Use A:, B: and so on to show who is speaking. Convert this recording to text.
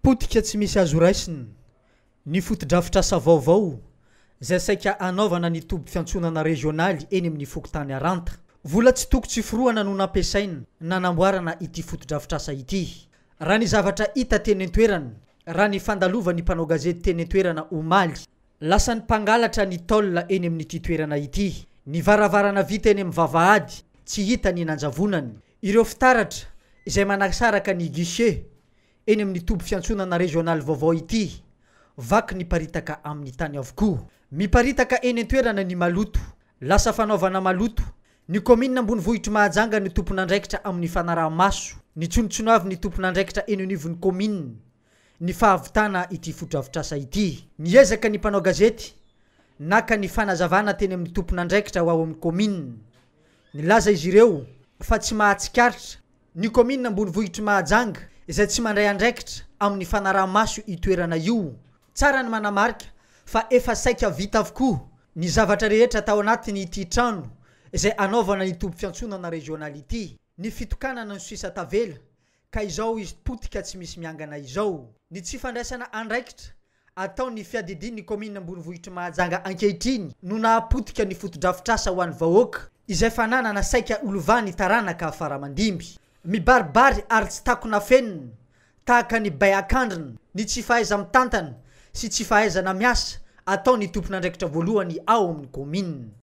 A: Potika tsy misy azo raisina ny fotodrafitrasa vaovao izay saika hanaovana ny toby fiantsonana rezionaly eny amin'ny fokontany Aranta. Vola tsy toko tsy forohana no nampiasaina nanamboarana ity fotodrafitrasa ity, raha ny zavatra hita teny an-toerana, raha ny fandalovan'ny mpanao gazety teny an-toerana omaly. Lasan'ny mpangalatra ny tôl eny amin'ity toerana ity. Ny varavarana vita eny amin'ny vavahady, tsy hita ny nanjavonany. Ireo fitaratra izay manasaraka ny guichet eny amin'ny toby fiantsonana rezionaly vaovao ity, vaky ny paritaka amin'ny tany avokoa. Miparitaka eny an-toerana ny maloto. Lasa fanaovana maloto. Ny kaominina ambonivohitr'i Mahajanga no tompon'andraikitra amin'ny fanaraha-maso ny tsonotsonoavin'ny tompon'andraikitra eny anivon'ny kaominina. ny fahavitana ity fotodrafitrasa ity. Niezaka ny mpanao gazety naka ny fanazavana teny amin'ny tompon'andraikitra ho ao amin'ny kaominina. Nilaza izy ireo fa tsy mahatsikaritra ny kaominina ambonivohitr'i Mahajanga izay tsy mandray andraikitra amin'ny fanaraha-maso io toerana io. Tsara ny manamarika fa efa saika vita avokoa ny zavatra rehetra tao anatin'ity trano izay anaovana ny tobim-piantsonana rezionaly ity. Ny fitokanana no sisa tavela ka izao izy potika tsy misy miangana izao. Ny tsy fandraisana andraikitra atao ny fiadidian' ny kaominina ambonivohitr'i Mahajanga ankehitriny no nahapotika ny fotodrafitrasa ho an'ny vahoaka izay fananana saika ho lovan'ny taranaka faramandimby. Mibaribary ary tsy takona fenina tahaka ny bay an-kandrina ny tsy fahaiza-mitantana sy tsy fahaizana miasa ataon'ny tompon'andraikitra voalohany ao amin'ny kaominina.